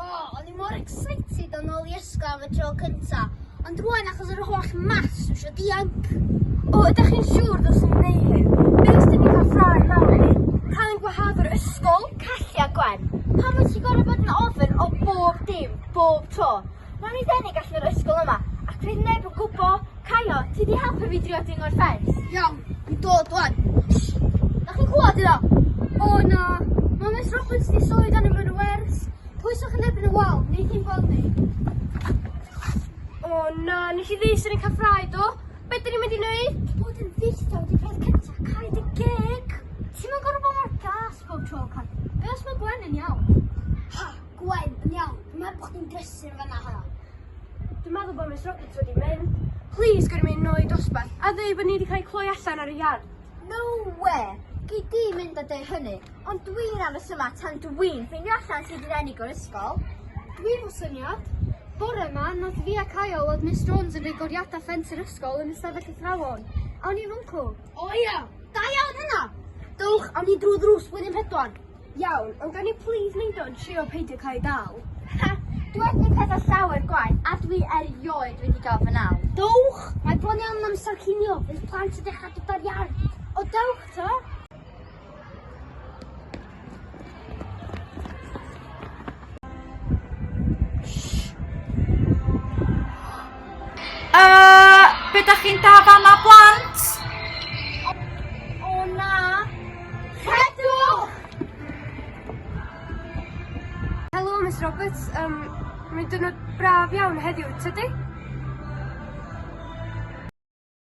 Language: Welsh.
O, o'n i mor excited dod nôl i ysgol am y tro cynta, ond rwan achos yr holl maths dwi isio dianc. O, ydych chi'n siŵr dylswn i wneud hyn? Be' os 'dyn ni'n cael ffrae mawr i ni? Cael ein gwahardd o'r ysgol? Callea Gwen, pam wyt ti'n gorfod bod yn ofyn o bob dim, bob tro? Nawn ni denu gallu o'r ysgol yma, ac fydd neb yn gwbo. Caio, ti 'di helpu fi drio dringo'r ffens. Iawn, dwi'n dod wan. Shh! Dach chi'n clwad yna? O na, mae Miss Roberts 'di soi dan y mur wers. Pwyswch yn erbyn y wal, neith hi'n gweld ni. O na, nes i ddys yn ei cael ffrae do? Be' dyn ni'n mynd i neud? Bod yn ddistaw di peth cynta, cael dy geg. Ti'm yn gorfod bod mor gas bob tro, Caio. Be' os mae Gwen yn iawn? Ha, Gwen yn iawn? Dwi'n meddwl bod chdi'n brysur yn fanna, ha. Dwi'n meddwl bod Miss Roberts wedi mynd. Please, gwn i mynd nôl i dosbarth a ddweud bod ni wedi cael ei cloi allan ar y iard. No way! Gei di mynd a dweud hynny, ond dwi'n am y syma tan dwi'n ffeindio allan sydd wedi ennig o'r ysgol. Dwi'n fo syniad. Bore yma, nodd fi a Caio oedd Miss Jones yn rhoi goriadau ffens yr ysgol yn ystafell y thrawon. Awn i'n fwncw. O ia, da iawn hynna! Dowch, awn ni drwy ddrws blwyddyn pedwar. Iawn, ond gawn ni plîs neud o yn trio peidio cael ei dal? Ha! Dw wedi gwneud pethau llawer gwaeth a dwi erioed wedi cael fy nal. Dowch! Mae bron iawn yn amser cinio, bydd plant yn dechrau dod ar iau. O dewch ta! Uh, be da chi'n da fama blant? O, o na. Rhedwch! Helo, Miss Roberts. Um, Mae'n dynod braf iawn heddiw, tydi?